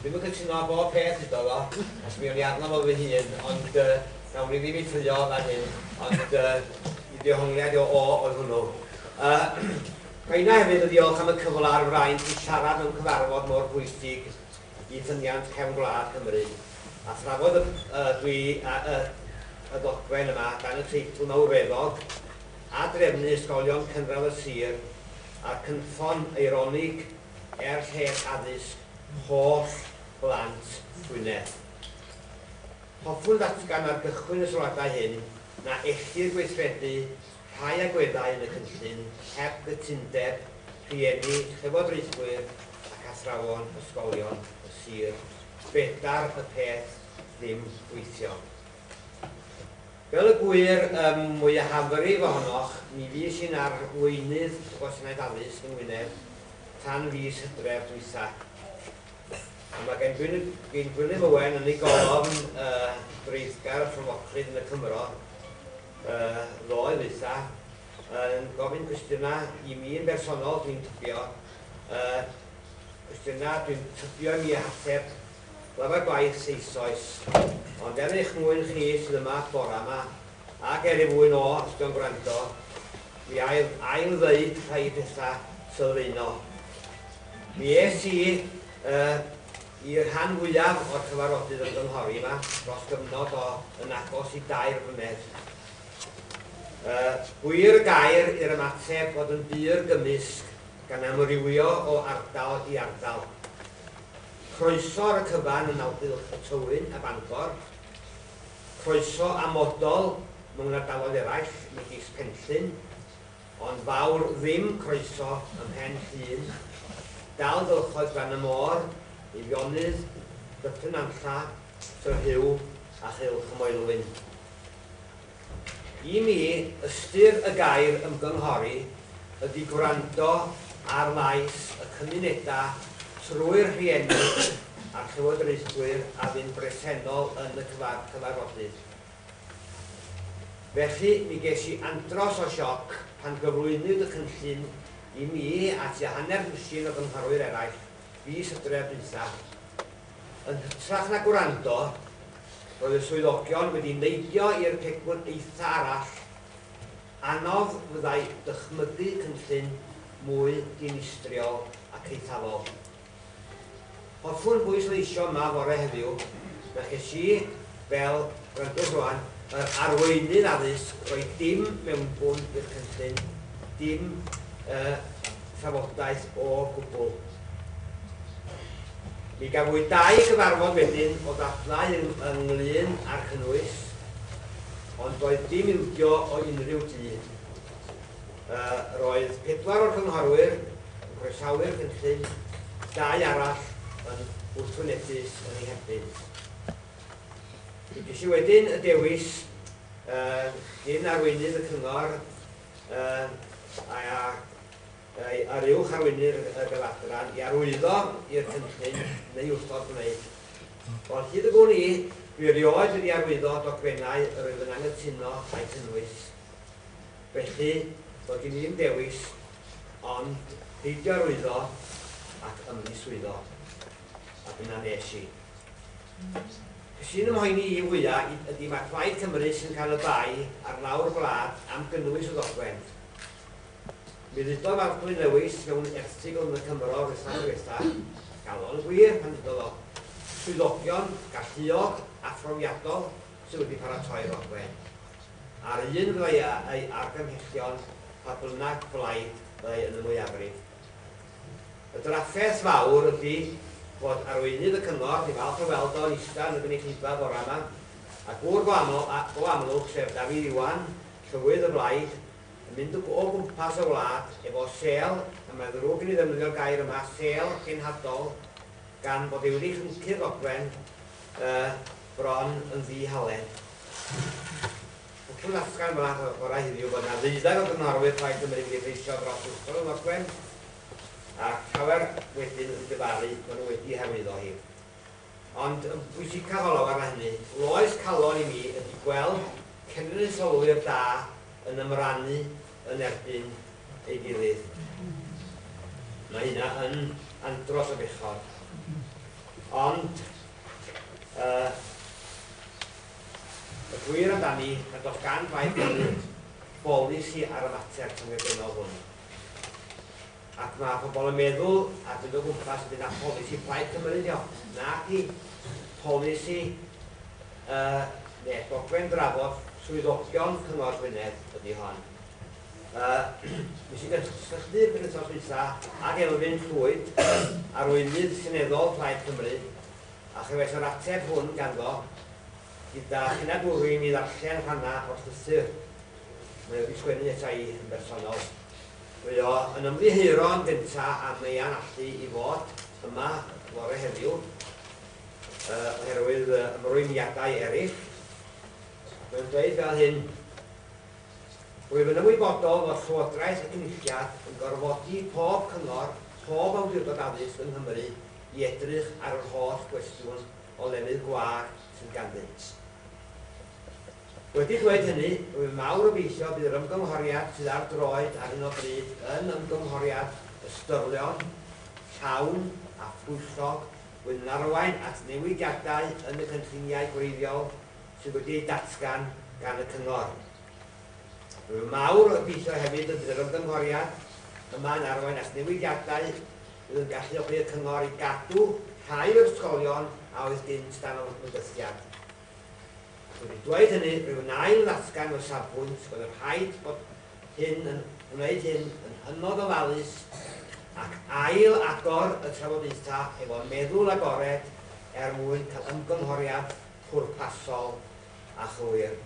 Dwi'm yn cytuno â bob peth huddo fo, a sbïwn i arno fo fy hun, ond yy nawn ni ddim ei ffrio fan hyn, ond yy i ddehongliad o o oedd hwnnw. Yy ga inna hefyd y ddiolch am y cyfle a'r fraint i siarad mewn cyfarfod mor bwysig i ffyniant cefn gwlad Cymru, a thrafod y y dwi a y y ddogfen yma dan y teitl mawreddog, A drefnu ysgolion cynradd y sir, a'r cynffon eironig er lles addysg holl blant Gwynedd. Hoffwn ddatgan ar gychwyn y sylwadau hyn na ellir gweithredu rhai agweddau yn y cynllun heb gytundeb rhieni, llywodraethwyr ac athrawon ysgolion y sir, fedar y peth ddim gweithio. Fel y gŵyr ym mwyafrif ohonoch, mi fues i'n arweinydd y Gwasanaeth Addysg yng Ngwynedd tan fis Hydref dwytha. A mae gan Gwyn, Gwyn Gwilym Owen yn ei golofn y dreiddgar rhyfoclyd yn y Cymro y ddoe ddwytha yn gofyn cwestiynau i mi yn bersonol, dwi'n tybio, y cwestiynau dwi'n tybio i mi ateb Glyfar gwaith eisoes, ond er eich mwyn chi sydd yma bora 'ma, ac er i fwy no osg yn gwrando, mi a i ail ddeud rhai petha sylfaenol. Mi es i y i rhan fwyaf o'r cyfarodydd ymgynghori yma dros gyfnod o yn agos i dair mlynedd. Y gwir y gair i'r ymateb fod yn bur gymysg gan amrywio o ardal i ardal. Croeso ar y cyfan yn Awdylch y Tywyn ym Mangor. Croeso amodol mewn ardaloedd eraill megis Penllyn, ond fawr ddim croeso ym Mhen Llŷn. Dal gylchoedd Glan y Môr, Eifionydd, Dyffryn Nantlla, Tŷ Rhiw a Chylch y Moelwyn. I mi, ystyr y gair ymgynghori ydy gwrando ar lais y cymunedau trwy'r rhieni a'r llywodraethwyr a fu'n bresennol yn y cyfarfodydd. Felly, mi ges i andros o sioc pan gyflwynwyd y cynllun i mi a tua hanner dwsin o gynghorwyr eraill fis Hydref dwytha. Yn hytrach na gwrando, roedd y swyddogion wedi neidio i'r pegwn eitha' arall, anodd fyddai dychmygu cynllun mwy dinistriol ac eithafol. Hoffwn bwysleisio yma fore heddiw, na ches i, Fel gwrandwr rwan, yr arweinydd addysg, roedd dim mewnbwn i'r cynllun, dim yy trafodaeth o gwbl. Mi gafwyd dau gyfarfod wedyn o ddadlau ynglŷn â'r cynnwys, ond doedd dim ildio o unrhyw dŷ. Yy roedd pedwar o'r cynghorwyr yn croesawu'r cynllun, dau arall yn wrthwynebus yn ei herbyn. Ges i wedyn y dewis, cyn arweinydd y cyngor a'r uwch arweinydd y Bel-adran, i arwyddo i'r cynllun neu wrthod gwneud. Ond hyd y gwn i, dwi erioed wedi arwyddo dogfennau yr oedd yn anghytuno â'u cynnwys. Felly, doedd gen i ddim dewis ond peidio arwyddo ac ymddiswyddo. A dyna nes i. Be sy'n fy mhoeni i fwya' ydi ma' Plaid Cymru sy'n cael y bai ar lawr gwlad am gynnwys y ddogfen. Mi ddudodd Maldwyn Lewis mewn erthygl yn y Cymro yr wythnos ddiwetha', galon yn gwir pan ddudodd o, 'swyddogion galluog a phrofiadol sy' wedi paratoi'r ddogfen'. A'r un fyddai â'i argymhellion pa bynnag blaid fyddai yn y mwyafrif. Y drafferth fawr ydy fod arweinydd y cyngor, dwi'n falch o weld o yn ista yn y gynulleidfa bora yma, a gŵr go aml, a, go amlwg, sef Dafydd Iwan, Llywydd y Blaid, yn mynd o o gwmpas y wlad efo sêl, a mae'n ddrwg i mi ddefnyddio'r gair yma, sêl cenhadol, gan fod ei wedi chyncu'r ddogfen, yy, bron yn ddi-halen. Y cymysgedd mân o'r gorau hynny yw bod yna ddeuddag o gyngorwyr Plaid Cymru wedi effeithio dros Ysgol y Nodwen ac llawer wedyn yn dyfalu bod nhw wedi hyrwyddo hi. Ond yn bwysicaf o lawer na hynny, loes calon i mi ydy gweld cenedlaetholwyr da yn ymrannu yn erbyn ei gilydd. Mae hynna yn andros o bechod. Ond, uh, Y gwir amdani na does gan Blaid Cymru bolisi ar y mater cyffredinol hwn, ac mae pobl yn meddwl a dyn o gwmpas y bydd na pholisi Plaid Cymru ydi o, nadi polisi y ne dogfen drafod swyddogion Cyngor Gwynedd ydi hon. Y mi sy'n gysylltu'r penwythnos dwytha ag Elfyn Llwyd, arweinydd seneddol Plaid Cymru, A chefais yr ateb hwn ganddo, Gyda hunagwrw i mi ddarllen rhannau o'r llythyr mae o wedi sgwennu ata i yn bersonol. Mae o yn ymddiheuro yn gyntaf am ei anallu i fod yma fore heddiw yy oherwydd yy ymrwymiadau eraill. Mae'n dweud fel hyn, Rwyf yn ymwybodol fod Llywodraeth y Cynulliad yn gorfodi pob cyngor, pob awdurdod addysg yng Nghymru, i edrych ar yr holl gwestiwn o lefydd gwag sydd ganddynt. Wedi dweud hynny, rwy'n mawr obeithio bydd yr ymgynghoriad sydd ar droed ar hyn o bryd yn ymgynghoriad ystyrlon, llawn a phwyllog wedi'n arwain at newidiadau yn y cynlluniau gwreiddiol sydd wedi eu datgan gan y Cyngor. Rwy'n mawr obeithio hefyd y bydd yr ymgynghoriad yma yn arwain at newidiadau Bydd yn galluogi y Cyngor i gadw rhai o'r ysgolion a oedd gynt dan ymgysylltiad. Ac wedi dweud hynny, rwyf yn ail-ddatgan fy safbwynt bod yn rhaid bod hyn yn gwneud hyn yn hynod ofalus ac ail-agor y trafodaethau efo meddwl agored er mwyn cael ymgynghoriad pwrpasol a chywir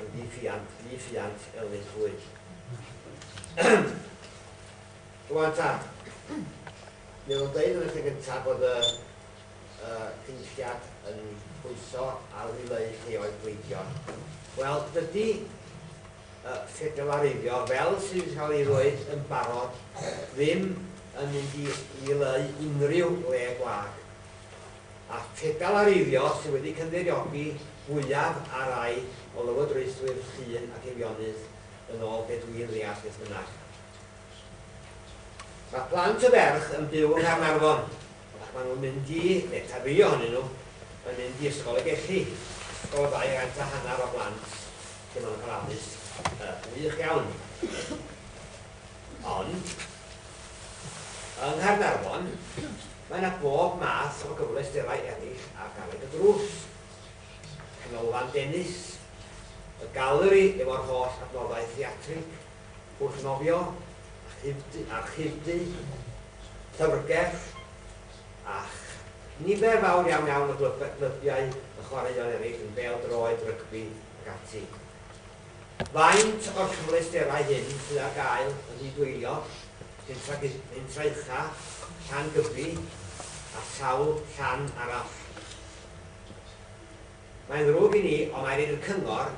yn ddi-ffiant, ddi-ffiant, Elin Llwyd. Rwan ta, mi oedd o'n deud yn y lle gyntaf bod y Cynulliad yn pwyso ar ddileu lleoedd gleifion. Wel, dydy ffedelareiddio, fel sydd wedi cael ei ddweud yn barod, ddim yn mynd i ddileu unrhyw le gwag. A ffedelareiddio sydd wedi cynddeiriogi fwyaf ar rai o lywodraethwyr Llŷn ac Eifionydd, yn ôl be dwi'n ddeall beth bynnag. Mae plant y ferch yn byw yng Nghaernarfon ac maen nhw'n mynd i, neu tan rhai ohonyn nhw, yn mynd i Ysgol y Gelli, ysgol o ddau gant a hanner o blant lle maen nhw'n cael addysg gwych iawn. Ond, yng Nghaernarfon, mae yna bob math o gyfleusterau eraill ar garreg y drws, canolfan dennis, y galeri efo'r holl adnoddau theatrig, Wrth nofio, archifdy, llyfrgell, a nifer fawr iawn iawn o glybiau a chwaraeon eraill yn bêl-droed, rygbi ac ati. Faint o'r cyfleusterau hyn sydd ar gael yn nid-wylio, pentra ucha, Llan Gybi a sawl llan arall? Mae'n ddrwg i ni, ond mae angen i'r Cyngor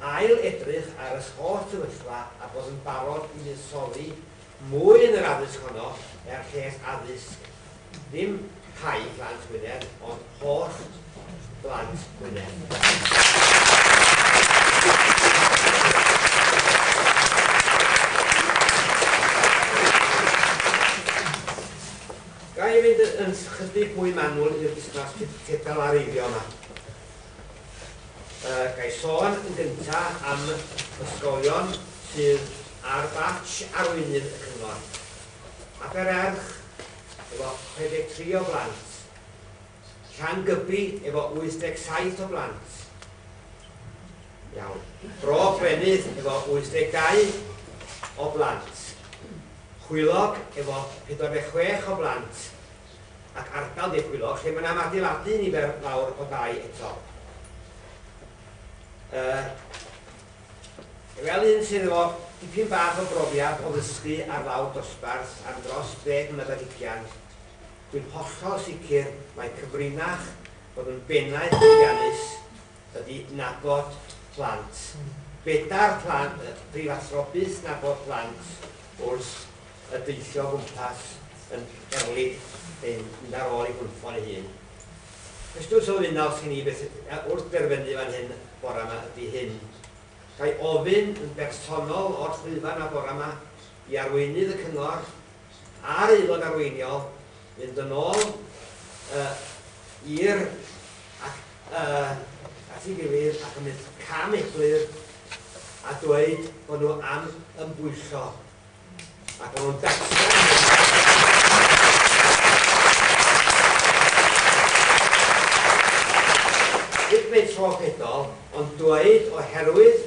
ail edrych ar yr holl sefyllfa a bod yn barod i fuddsoddi mwy yn yr addysg honno er lles addysg ddim rhai plant Gwynedd ond holl blant Gwynedd. Ga i fynd yn chydig mwy manwl i'r busnas ceffyl a reiddio yma? Yy, ga i sôn yn gynta am ysgolion sydd ar batsh arweinydd y cyngor. Abererch, efo 63 o blant. Llangybi efo 87 o blant. Iawn. Bro Brenydd efo 82 o blant. Chwilog efo 46 o blant ac ardal De Chwilog lle mae yna am adeiladu nifer fawr o dai eto. Yy, fel un sydd efo dipyn bach o brofiad o ddysgu ar lawr dosbarth am dros ddeg mlynedd ar hugian, Dwi'n hollol sicr mai cyfrinach bod yn bennaeth llwyddiannus ydi nabod plant. Bedair plan y prifathro byth nabod plant wrth y deithio o gwmpas yn erlid neu'n mynd ar ôl ei gwnffon ei hun. Cwestiwn sylfaenol sgen i beth wrth derfynu fan hyn bora ma ydi hyn. Ga i ofyn yn bersonol o'r llwyfan ma bora ma i arweinydd y cyngor a'r Aelod Arweiniol fynd yn ôl i'r at ei gilydd ac yn mynd cam eglur a dweud bod nhw am ymbwyllo a bod nhw'n datgan hyn. Nid meic rhoffedol, ond dweud oherwydd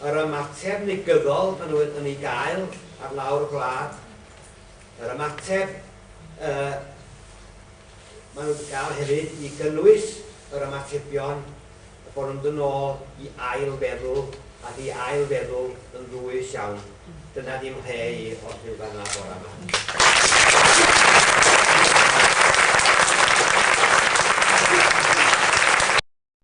Yr ymateb negyddol maen nhw yn ei gael ar lawr y gwlad, yr ymateb y maen nhw wedi cael hefyd i gynnwys yr ymatebion y bod nhw'n mynd yn ôl i ail feddwl ac i ail feddwl yn ddwys iawn. Dyna ddim lle i os bydd fan yna bore yma.